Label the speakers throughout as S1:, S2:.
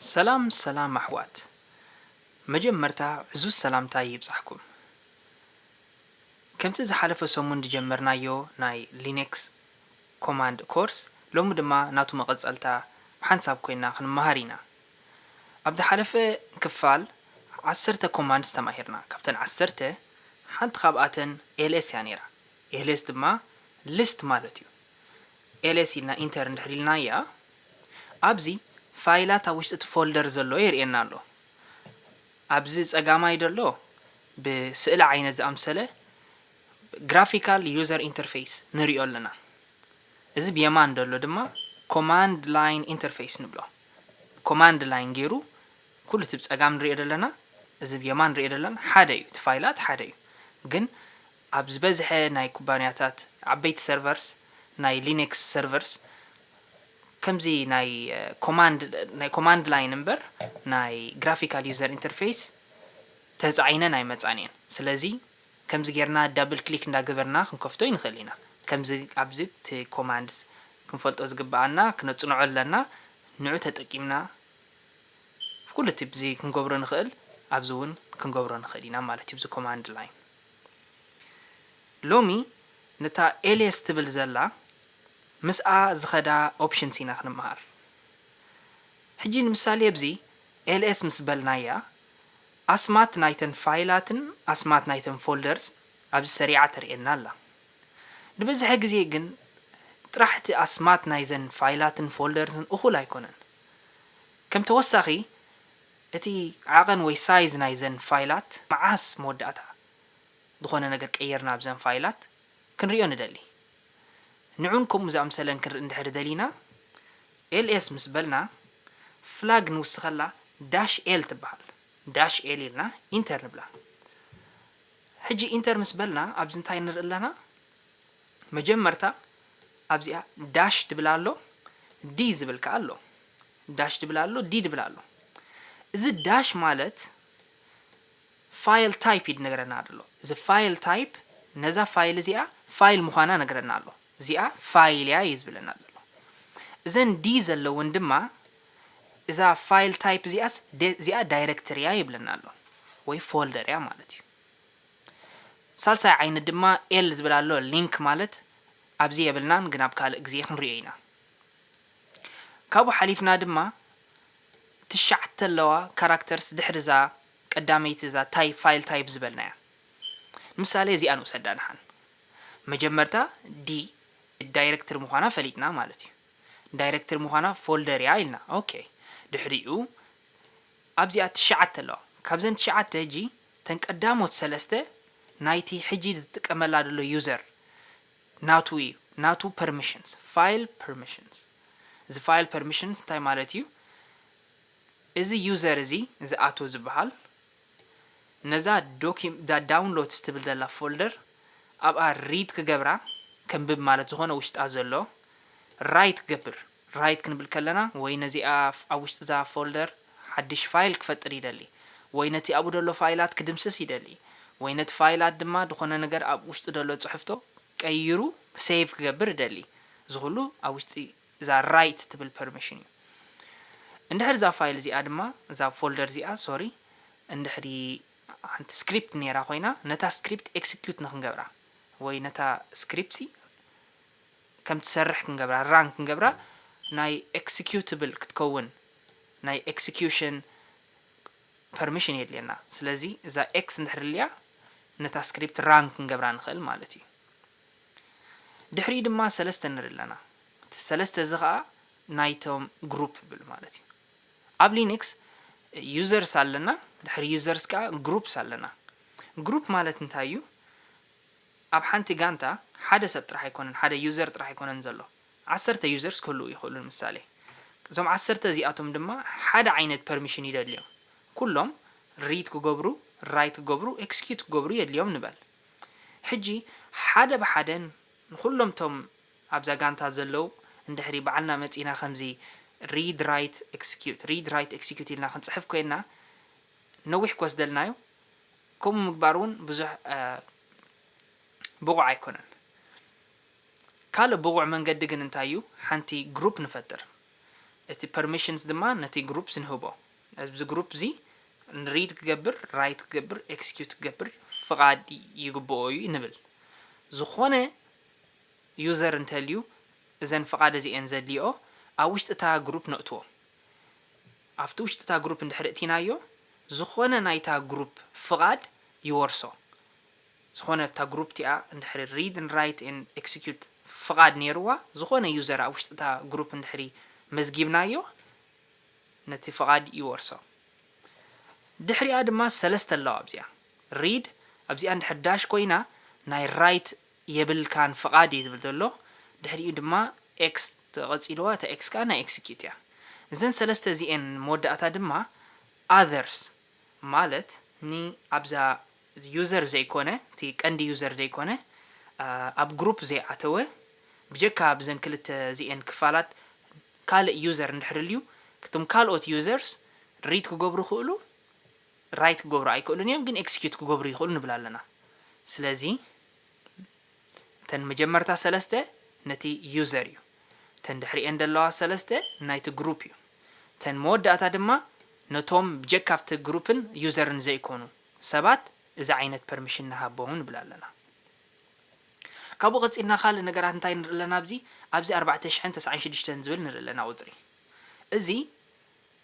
S1: ሰላም ሰላም ኣሕዋት መጀመርታ ዕዙዝ ሰላምታይ ይብጻሕኩም ከምቲ ዝሓለፈ ሰሙን ዝጀመርናዮ ናይ ሊነክስ ኮማንድ ኮርስ ሎሚ ድማ ናቱ መቐጸልታ ብሓንሳብ ኮይና ክንመሃር ኢና ኣብ ዝሓለፈ ክፋል ዓሰርተ ኮማንድስ ተማሂርና ካብተን ዓሰርተ ሓንቲ ካብኣተን ls እያ ነይራ ls ድማ list ማለት እዩ ls ኢልና ኢንተር እንድሕር ኢልናያ ኣብዚ ፋይላት ኣብ ውሽጢ እቲ ፎልደር ዘሎ የርእየና ኣሎ። ኣብዚ ጸጋማይ ዘሎ ብስእሊ ዓይነት ዝኣምሰለ ግራፊካል ዩዘር ኢንተርፌስ ንሪኦ ኣለና። እዚ ብየማን ዘሎ ድማ ኮማንድ ላይን ኢንተርፌስ ንብሎ። ኮማንድ ላይን ገይሩ ኩሉ እቲ ብጸጋም ንሪኦ ዘለና እዚ ብየማን ንሪኦ ዘለና ሓደ እዩ። እቲ ፋይላት ሓደ እዩ። ግን ኣብ ዝበዝሐ ናይ ኩባንያታት ዓበይቲ ሰርቨርስ ናይ ሊነክስ ሰርቨርስ ከምዚ ናይ ኮማንድ ናይ ኮማንድ ላይን እምበር ናይ ግራፊካል ዩዘር ኢንተርፌይስ ተጻዒነን ኣይመጻን እየን ስለዚ ከምዚ ጌርና ዳብል ክሊክ እንዳገበርና ክንከፍቶ ኣይንኽእል ኢና ከምዚ ኣብዚ እቲ ኮማንድስ ክንፈልጦ ዝግብኣና ክነጽንዖ ኣለና ንዑ ተጠቂምና ኩሉ እቲ ብዚ ክንገብሮ ንኽእል ኣብዚ ውን ክንገብሮ ንኽእል ኢና ማለት እዩ ብዚ ኮማንድ ላይን። ሎሚ ንታ ኤልየስ ትብል ዘላ ምስኣ ዝከዳ ኦፕሽንስ ኢና ክንምሃር ሕጂ ንምሳሌ ኣብዚ ls ምስ በልናያ ኣስማት ናይተን ፋይላትን ኣስማት ናይተን ፎልደርስ ኣብዚ ሰሪዓ ተርእየና ኣላ ንብዝሐ ግዜ ግን ጥራሕ እቲ ኣስማት ናይዘን ፋይላትን ፎልደርስን እኩል ኣይኮነን ከም ተወሳኪ እቲ ዓቐን ወይ ሳይዝ ናይዘን ፋይላት መዓስ መወዳእታ ዝኾነ ነገር ቀይርና ኣብዘን ፋይላት ክንሪኦ ንደሊ። ንዑን ከምኡ ዝኣምሰለን ክንርኢ እንድሕሪ ደሊና ls ምስ በልና ፍላግ ንውስኸላ ዳሽ l ትበሃል ዳሽ l ኢልና ኢንተር ንብላ። ሕጂ ኢንተር ምስ በልና ኣብዚ እንታይ ንርኢ ኣለና መጀመርታ ኣብዚኣ ዳሽ ትብል ኣሎ d ዝብል ከኣ ኣሎ። ዳሽ ድብል ኣሎ ዲ ድብል ኣሎ እዚ ዳሽ ማለት ፋይል ታይፕ እዩ ድነግረና ደሎ እዚ ፋይል ታይፕ ነዛ ፋይል እዚኣ ፋይል ምዃና ነግረና ኣሎ እዚኣ ፋይል እያ እዩ ዝብለና ዘሎ እዘን ዲ ዘለውን ድማ እዛ ፋይል ታይፕ እዚኣስ እዚኣ ዳይረክተሪ እያ ይብለና ኣሎ ወይ ፎልደር እያ ማለት እዩ ሳልሳይ ዓይነት ድማ ኤል ዝብል ኣሎ ሊንክ ማለት ኣብዚ የብልናን ግን ኣብ ካልእ ግዜ ክንሪኦ ኢና ካብኡ ሓሊፍና ድማ ትሽዓተ ኣለዋ ካራክተርስ ድሕሪ እዛ ቀዳመይቲ እዛ ታይ ፋይል ታይፕ ዝበልናያ። ንምሳሌ እዚኣ ንውሰዳ ድሓን። መጀመርታ ዲ ዳይረክትሪ ምዃና ፈሊጥና ማለት እዩ። ዳይረክትሪ ምዃና ፎልደር እያ ኢልና ኦኬ። ድሕሪኡ ኣብዚኣ ትሽዓተ ኣለዋ። ካብዘን ትሽዓተ ሕጂ እተን ቀዳሞት ሰለስተ ናይቲ ሕጂ ዝጥቀመላ ዘሎ ዩዘር ናቱ እዩ ናቱ ፐርሚሽንስ ፋይል ፐርሚሽንስ እዚ ፋይል ፐርሚሽንስ እንታይ ማለት እዩ እዚ ዩዘር እዚ እዚ ኣቶ ዝበሃል ነዛ ዶኪም እዛ ዳውንሎድስ ትብል ዘላ ፎልደር ኣብኣ ሪድ ክገብራ ከንብብ ማለት ዝኾነ ውሽጣ ዘሎ ራይት ክገብር Write ክንብል ከለና ወይ ነዚኣ ኣብ ውሽጢ እዛ ፎልደር ሓድሽ ፋይል ክፈጥር ይደሊ ወይ ነቲ ኣብኡ ደሎ ፋይላት ክድምስስ ይደሊ ወይ ነቲ ፋይላት ድማ ድኾነ ነገር ኣብ ውሽጡ ደሎ ጽሕፍቶ ቀይሩ save ክገብር እደሊ እዚ ኩሉ ኣብ ውሽጢ እዛ Write ትብል ፐርሚሽን እዩ እንድሕር እዛ ፋይል እዚኣ ድማ እዛ ፎልደር እዚኣ ሶሪ እንድሕሪ ሓንቲ ስክሪፕት ኔራ ኮይና ነታ ስክሪፕት ኤክስኪዩት ንክንገብራ ወይ ነታ ስክሪፕትሲ ከም ትሰርሕ ክንገብራ፣ run፣ ክንገብራ ናይ ኤክስኪዩትብል ክትከውን ናይ ኤክስኪዩሽን ፐርሚሽን የድልየና። ስለዚ እዛ ኤክስ እንድሕር ኣልያ ነታ ስክሪፕት run ክንገብራ ንኽእል ማለት እዩ። ድሕሪኡ ድማ ሰለስተ ንርኢ ኣለና። እቲ ሰለስተ እዚ ኸኣ ናይቶም ግሩፕ ይብል ማለት እዩ። ኣብ ሊንክስ ዩዘርስ ኣለና፣ ድሕሪ ዩዘርስ ከኣ ግሩፕስ ኣለና። ግሩፕ ማለት እንታይ እዩ? ኣብ ሓንቲ ጋንታ ሓደ ሰብ ጥራሕ ኣይኮነን ሓደ ዩዘር ጥራሕ ኣይኮነን ዘሎ ዓሰርተ ዩዘርስ ክህልዉ ይኽእሉ ንምሳሌ እዞም ዓሰርተ እዚኣቶም ድማ ሓደ ዓይነት ፐርሚሽን ይደልዮም ኩሎም ሪድ ክገብሩ ራይት ክገብሩ ኤክስኪዩት ክገብሩ የድልዮም ንበል ሕጂ ሓደ ብሓደ ንኹሎም እቶም ኣብዛ ጋንታ ዘለዉ እንድሕሪ ባዕልና መጺና ከምዚ ሪድ ራይት ኤክስኪዩት ሪድ ራይት ኤክስኪዩት ኢልና ክንጽሕፍ ኮይና ነዊሕ ክወስደልና እዩ ከምኡ ምግባር እውን ብዙሕ ብቑዕ ኣይኮነን። ካልእ ብቑዕ መንገዲ ግን እንታይ እዩ? ሓንቲ ግሩፕ ንፈጥር። እቲ ፐርሚሽንስ ድማ ነቲ ግሩፕስ ንህቦ። ኣብዚ ግሩፕ እዚ ሪድ ክገብር፣ ራይት ክገብር፣ ኤክስኪዩት ክገብር ፍቓድ ይግብኦ እዩ ንብል። ዝኾነ ዩዘር እንተልዩ እዘን ፍቓድ እዚኤን ዘድልይኦ ኣብ ውሽጢ እታ ግሩፕ ነእትዎ። ኣብቲ ውሽጢ እታ ግሩፕ እንድሕር እቲናዮ ዝኾነ ናይታ ግሩፕ ፍቓድ ይወርሶ። ዝኾነ ኣብታ ግሩፕ እቲኣ እንድሕር read and write and execute ፍቓድ ኔርዋ ዝኾነ ዩዘር ኣብ ውሽጢ እታ ግሩፕ እንድሕር መዝጊብናዮ ነቲ ፍቓድ ይወርሶ። ድሕሪኣ ድማ ሰለስተ ኣለዋ ኣብዚኣ read ኣብዚኣ እንድሕር ዳሽ ኮይና ናይ write የብልካን ፍቓድ እዩ ዝብል ዘሎ ድሕሪኡ ድማ X ተቐጺልዋ እታ X ከኣ ናይ Execute እያ እዘን ሰለስተ እዚኤን መወዳእታ ድማ Others ማለት ን ኣብዛ User ዘይኮነ እቲ ቀንዲ User ዘይኮነ ኣብ Group ዘይኣተወ ብጀካ ብዘን ክልተ እዚኤን ክፋላት ካልእ User እንድሕሪ ኣልዩ እቶም ካልኦት Users Read ክገብሩ ይኽእሉ ራይት ክገብሩ ኣይክእሉን እዮም ግን ኤክስኪዩት ክገብሩ ይኽእሉ ንብል ኣለና ስለዚ እተን መጀመርታ ሰለስተ ነቲ ዩዘር እዩ እተን ድሕሪኤን ደለዋ ሰለስተ ናይቲ ግሩፕ እዩ እተን መወዳእታ ድማ ነቶም ብጀካ ኣብቲ ግሩፕን ዩዘርን ዘይኮኑ ሰባት እዚ ዓይነት ፐርሚሽን ንሃቦም ንብል ኣለና ካብኡ ቀጺልና ካልእ ነገራት እንታይ ንርኢ ኣለና ኣብዚ ኣብዚ ኣርባዕተ ሽሕን ተስዓን ሽዱሽተን ዝብል ንርኢ ኣለና ቁጽሪ እዚ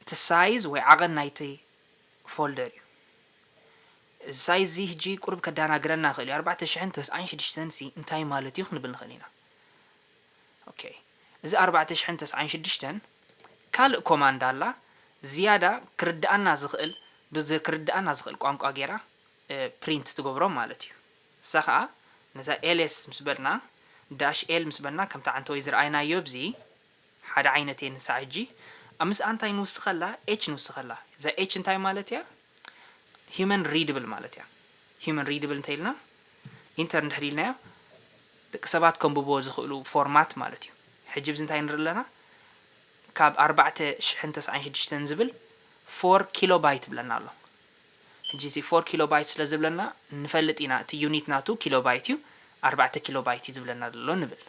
S1: እቲ ሳይዝ ወይ ዓቐን ናይቲ ፎልደር እዩ እዚ ሳይት እዚ ህጂ ቁሩብ ከዳናግረና ይክእል እዩ ኣርባዕተ ሽሕን ተስዓን ሽድሽተን ሲ እንታይ ማለት እዩ ክንብል ንክእል ኢና ኦኬ እዚ ኣርባዕተ ሽሕን ተስዓን ሽድሽተን ካልእ ኮማንድ ኣላ ዝያዳ ክርድኣና ዝክእል ብዚ ክርድኣና ዝክእል ቋንቋ ጌራ ፕሪንት ትገብሮም ማለት እዩ እሳ ከኣ ነዛ ኤልስ ምስ በልና ዳሽ ኤል ምስ በልና ከምቲ ዓንተወይ ዝረኣይናዮ ኣብዚ ሓደ ዓይነት እየን ንሳዕ ህጂ ኣብ ምስኣ እንታይ ንውስኸላ ኤች ንውስኸላ እዛ ኤች እንታይ ማለት እያ ሂዩመን ሪድብል ማለት እያ ሂዩመን ሪድብል እንተ ኢልና ኢንተር እንድሕር ኢልናዮ ደቂ ሰባት ከምብብዎ ዝኽእሉ ፎርማት ማለት እዩ ሕጂ ብዚ እንታይ ንርኢ ኣለና ካብ ኣርባዕተ ሽሕን ተስዓን ሽዱሽተን ዝብል ፎር ኪሎ ባይት ብለና ኣሎ ሕጂ እዚ ፎር ኪሎ ባይት ስለ ዝብለና ንፈልጥ ኢና እቲ ዩኒት ናቱ ኪሎ ባይት እዩ ኣርባዕተ ኪሎ ባይት እዩ ዝብለና ዘሎ ንብል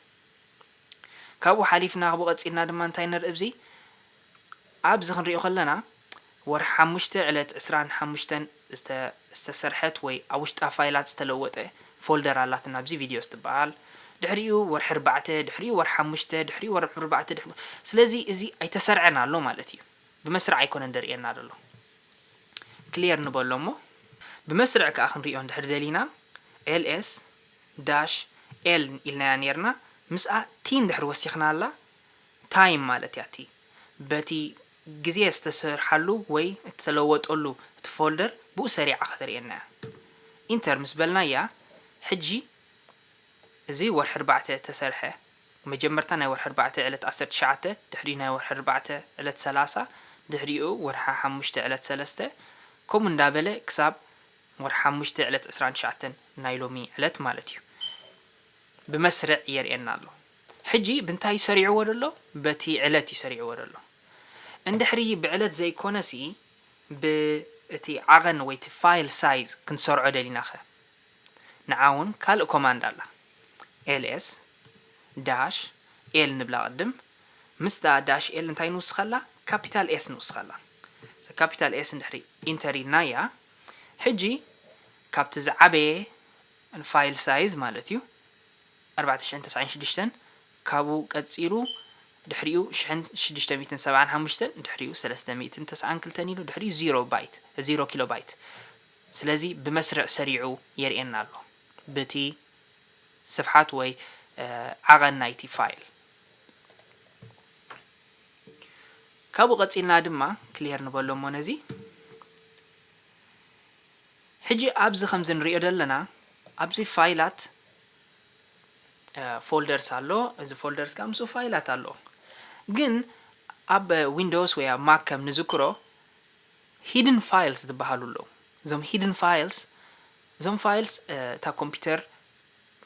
S1: ካብኡ ሓሊፍና ካብኡ ቀጺልና ድማ እንታይ ንርኢ ብዚ ኣብዚ ክንሪኦ ከለና ወርሒ ሓሙሽተ ዕለት ዕስራን ሓሙሽተን ዝተ ዝተሰርሐት ወይ ኣብ ውሽጣ ፋይላት ዝተለወጠ ፎልደር ኣላትና ብዚ ቪድዮስ ትበሃል ድሕሪኡ ወርሒ ኣርባዕተ ድሕሪኡ ወርሒ ሓሙሽተ ድሕሪኡ ወርሒ ኣርባዕተ ድሕሪኡ ስለዚ እዚ ኣይተሰርዐን ኣሎ ማለት እዩ ብመስርዕ ኣይኮነን ደርእየና ደሎ ክሊየር ንበሎ እሞ ብመስርዕ ከኣ ክንሪኦ እንድሕር ደሊና ls ዳሽ፣ ኤል ኢልናያ ኔርና፣ ምስኣ ቲ እንድሕር ወሲኽናላ፣ ታይም ማለት እያ። እቲ በቲ ግዜ ዝተሰርሓሉ ወይ እተለወጠሉ እቲ ፎልደር ብኡ ሰሪዓ ከተርእየና እያ። ኢንተር ምስ በልናያ፣ ሕጂ እዚ ወርሒ ኣርባዕተ እተሰርሐ፣ መጀመርታ ናይ ወርሒ ኣርባዕተ ዕለት ዓሰርተ ትሽዓተ፣ ድሕሪኡ ናይ ወርሒ ኣርባዕተ ዕለት ሰላሳ፣ ድሕሪኡ ወርሒ ሓሙሽተ ዕለት ሰለስተ፣ ከምኡ እንዳበለ ክሳብ ወርሒ ሓሙሽተ ዕለት ዕስራን ትሽዓተን ናይ ሎሚ ዕለት ማለት እዩ ብመስርዕ የርእየና ኣሎ ሕጂ ብንታይ እዩ ሰሪዕዎ ዘሎ በቲ ዕለት እዩ ሰሪዕዎ ዘሎ እንድሕሪ ብዕለት ዘይኮነሲ ብ እቲ ዓቐን ወይ እቲ ፋይል ሳይዝ ክንሰርዖ ደሊና ከ ንዓ ውን ካልእ ኮማንድ ኣላ ls dash l ንብላ ቅድም ምስታ dash l እንታይ ንውስኸላ ካፒታል s ንውስኸላ እዛ ካፒታል s እንድሕሪ ኢንተር ኢልናያ ሕጂ ካብቲ ዝዓበየ ፋይል ሳይዝ ማለት እዩ ኣርባዕተ ሽሕን ተስዓን ሽዱሽተን ካብኡ ቀጺሉ ድሕሪኡ ሽሕን ሽዱሽተ ሚእትን ሰብዓን ሓሙሽተን ድሕሪኡ ሰለስተ ሚእትን ተስዓን ክልተን ኢሉ ድሕሪኡ ዚሮ ባይት ዚሮ ኪሎ ባይት ስለዚ ብመስርዕ ሰሪዑ የርእየና ኣሎ ብቲ ስፍሓት ወይ ዓቐን ናይቲ ፋይል። ካብኡ ቀጺልና ድማ ክሊየር ንበሎ እሞ ነዚ ሕጂ ኣብዚ ከምዚ ንሪኦ ዘለና ኣብዚ ፋይላት ፎልደርስ ኣሎ እዚ ፎልደርስ ከኣ ምስኡ ፋይላት ኣለዎ ግን ኣብ ዊንዶውስ ወይ ኣብ ማክ ከም ንዝክሮ ሂድን ፋይልስ ዝበሃሉ ኣለዉ እዞም ሂድን ፋይልስ እዞም ፋይልስ እታ ኮምፒውተር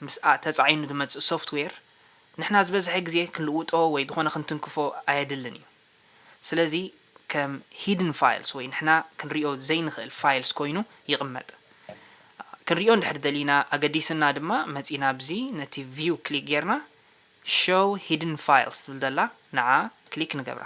S1: ምስ ተጻዒኑ ዝመጽእ ሶፍትዌር ንሕና ዝበዝሐ ግዜ ክንልውጦ ወይ ዝኾነ ክንትንክፎ ኣየድልን እዩ። ስለዚ ከም ሂድን ፋይልስ ወይ ንሕና ክንሪኦ ዘይንኽእል ፋይልስ ኮይኑ ይቕመጥ። ክንሪኦ እንድሕር ደሊና ኣገዲስና ድማ መጺና ኣብዚ ነቲ ቪው ክሊክ ጌርና ሸው ሂድን ፋይልስ ትብል ዘላ ንዓ ክሊክ ንገብራ።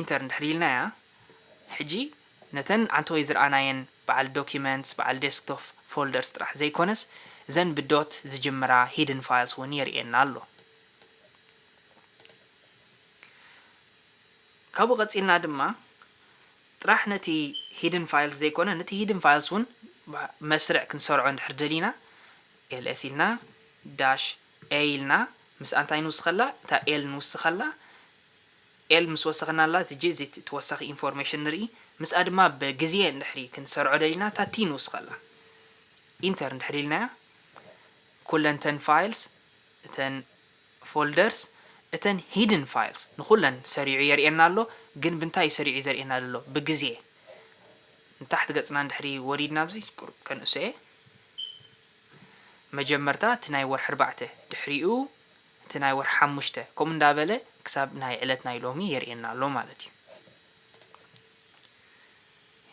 S1: ኢንተር እንድሕር ኢልናያ ሕጂ ነተን ዓንተወይ ዝርኣናየን በዓል Documents በዓል Desktop Folders ጥራሕ ዘይኮነስ እዘን ብ dot ዝጅምራ Hidden Files ውን የርእየና ኣሎ። ካብኡ ቀጺልና ድማ ጥራሕ ነቲ Hidden Files ዘይኮነ ነቲ Hidden Files ውን ብ መስርዕ ክንሰርዖ እንድሕር ደሊና ls ኢልና dash a ኢልና ምስኣ እንታይ ንውስኸላ እታ L ንውስኸላ፣ ኤል ምስ ወሰኽናላ ዝጅዚት ተወሳኺ ኢንፎርሜሽን ንርኢ ምስኣ ድማ ብ ግዝየ እንድሕሪ ክንሰርዖ ደሊና እታ ቲ ንውስኸላ ኢንተር እንድሕሪ ኢልናያ ኩለን እተን ፋይልስ እተን ፎልደርስ እተን ሂድን ፋይልስ ንኹለን ሰሪዑ የርእየና ኣሎ ግን ብንታይ እዩ ሰሪዑ ዘርእየና ደሎ ብ ግዝየ ንታሕቲ ገጽና እንድሕሪ ወሪድና ኣብዚ ቁሩብ ከንእሶ እየ መጀመርታ እቲ ናይ ወርሒ ኣርባዕተ ድሕሪኡ እቲ ናይ ወርሒ ሓሙሽተ ከምኡ እንዳበለ ክሳብ ናይ ዕለት ናይ ሎሚ የርእየና ኣሎ ማለት እዩ።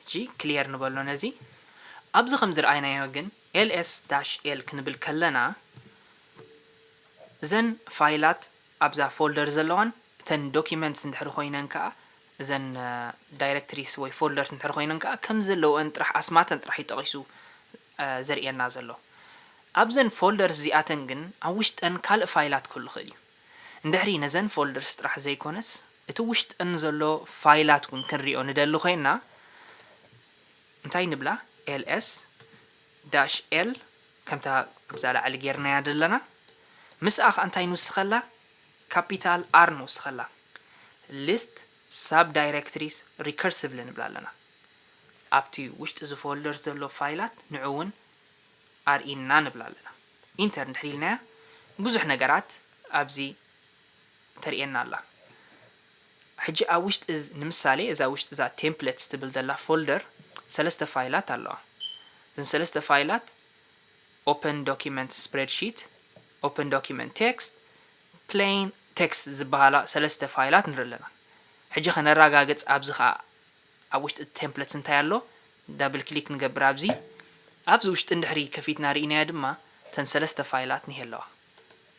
S1: ሕጂ ክሊየር ንበሎ ነዚ። ኣብዚ ከም ዝረኣይናዮ ግን ls-l ክንብል ከለና እዘን ፋይላት ኣብዛ ፎልደር ዘለዋን እተን ዶክመንትስ እንድሕሪ ኮይነን ከኣ እዘን ዳይረክትሪስ ወይ ፎልደርስ እንተ ኮይነን ከኣ ከም ዘለወን ጥራሕ ኣስማተን ጥራሕ እዩ ጠቒሱ ዘርእየና ዘሎ። ኣብዘን ፎልደርስ እዚኣተን ግን ኣብ ውሽጠን ካልእ ፋይላት ክህሉ ይኽእል እዩ። እንድሕሪ ነዘን ፎልደርስ ጥራሕ ዘይኮነስ እቲ ውሽጠን ዘሎ ፋይላት እውን ክንሪኦ ንደሊ ኮይንና እንታይ ንብላ ls dash l ከምታ ኣብዛ ላዕሊ ጌርናያ ዘለና ምስኣ ከኣ እንታይ ንውስኸላ ካፒታል ኣር ንውስኸላ ሊስት ሳብ ዳይረክትሪስ ሪከርስቭሊ ንብላ ኣለና። ኣብቲ ውሽጢ እዚ ፎልደር ዘሎ ፋይላት ንዑ እውን ኣርእይና ንብላ ኣለና። ኢንተር እንድሕር ኢልናያ ብዙሕ ነገራት ኣብዚ ተርእየና ኣላ። ሕጂ ኣብ ውሽጢ ንምሳሌ እዛ ውሽጢ እዛ ቴምፕለትስ ትብል ዘላ ፎልደር ሰለስተ ፋይላት ኣለዋ። እዘን ሰለስተ ፋይላት ኦፕን ዶክመንት ስፕረድሺት፣ ኦፕን ዶክመንት ቴክስት፣ ፕለይን ቴክስት ዝበሃላ ሰለስተ ፋይላት ንርኢ ኣለና። ሕጂኸ ነራጋግጽ ኣብዚ ከኣ ኣብ ውሽጢ እቲ ቴምፕለትስ እንታይ ኣሎ ዳብል ክሊክ ንገብር ኣብዚ። ኣብዚ ውሽጢ እንድሕሪ ከፊትና ርኢናዮ ድማ እተን ሰለስተ ፋይላት እኒሀ ኣለዋ።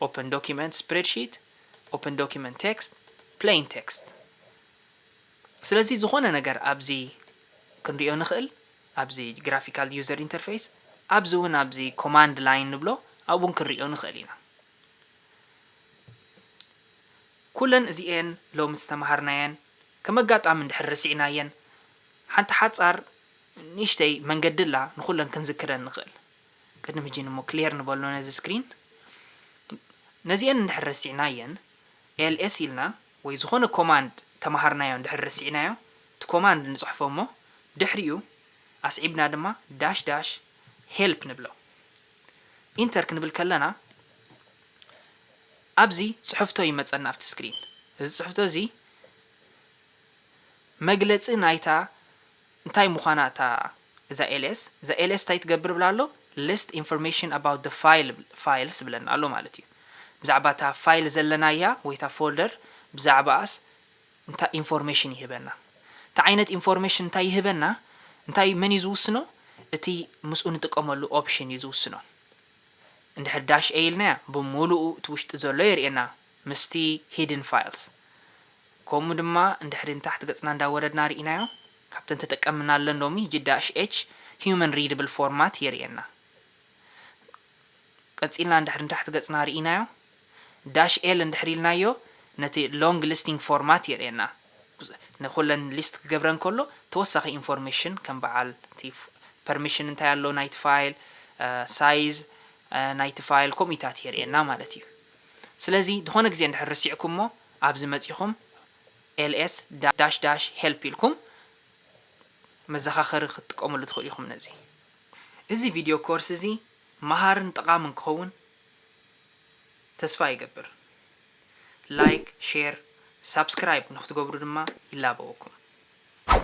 S1: ኦፕን ዶክመንት ስፕረድሺት፣ ኦፕን ዶክመንት ቴክስት፣ ፕለይን ቴክስት። ስለዚ ዝኾነ ነገር ኣብዚ ክንሪኦ ንኽእል። ኣብዚ ግራፊካል ዩዘር ኢንተርፌይስ ኣብዚ ውን ኣብዚ ኮማንድ ላይን ንብሎ ኣብኡ ውን ክንርእዮ ንኽእል ኢና። ኩለን እዚኤን ሎሚ ዝተማሃርናየን ከም ኣጋጣሚ እንድሕር ረሲዕናየን ሓንቲ ሓጻር ንእሽተይ መንገዲ ኣላ ንኹለን ክንዝክረን ንኽእል። ቅድም ሕጂ እሞ ክሌር ንበሎ ነዚ ስክሪን። ነዚኤን እንድሕር ረሲዕናየን ls ኢልና ወይ ዝኾነ ኮማንድ ተማሃርናዮ እንድሕር ረሲዕናዮ እቲ ኮማንድ ንጽሕፎ እሞ ድሕሪኡ ኣስዒብና ድማ ዳሽ ዳሽ ሄልፕ ንብሎ። ኢንተር ክንብል ከለና ኣብዚ ጽሕፍቶ ይመጸና ኣብቲ ስክሪን እዚ ጽሕፍቶ እዚ መግለጺ ናይታ እንታይ ምዃና እታ እዛ ls እዛ ls እንታይ ትገብር እብል ኣሎ list information about the file እብል files ይብለና ኣሎ ማለት እዩ ብዛዕባ እታ ፋይል ዘለናያ ወይ እታ ፎልደር ብዛዕባኣስ እንታይ ኢንፎርሜሽን ይህበና እቲ ዓይነት ኢንፎርሜሽን እንታይ ይህበና እንታይ መን እዩ ዝውስኖ እቲ ምስኡ ንጥቀመሉ ኦፕሽን እዩ ዝውስኖ እንድሕር ዳሽ a ኢልናያ ብምሉኡ እቲ ውሽጢ ዘሎ የርእየና ምስቲ Hidden Files ከምኡ ድማ እንድሕሪ ንታሕቲ ገጽና እንዳ ወረድና ሪኢናዮ ካብተን ተጠቀምናለን ሎሚ GDash-H Human Readable Format የርእየና ቀጺልና እንድሕሪ ንታሕቲ ገጽና ሪኢናዮ Dash L እንድሕሪ ኢልናዮ ነቲ Long Listing Format የርእየና ንኩለን ሊስት ክገብረን ከሎ ተወሳኺ ኢንፎርሜሽን ከም በዓል እቲ ፐርሚሽን እንታይ ኣሎ ናይቲ ፋይል ሳይዝ ናይቲ ፋይል ከምኡታት የርእየና ማለት እዩ። ስለዚ ድኾነ ግዜ እንድሕር ርሲዕኩሞ ኣብዚ መጺኹም ls ዳሽ ዳሽ help ኢልኩም መዘኻኸሪ ክትጥቀምሉ ትኽእሉ ኢኹም ነዚ። እዚ ቪድዮ ኮርስ እዚ መሃርን ጠቓምን ክኸውን ተስፋ ይገብር። ላይክ፣ ሼር፣ ሳብስክራይብ ንኽትገብሩ ድማ ይላበወኩም።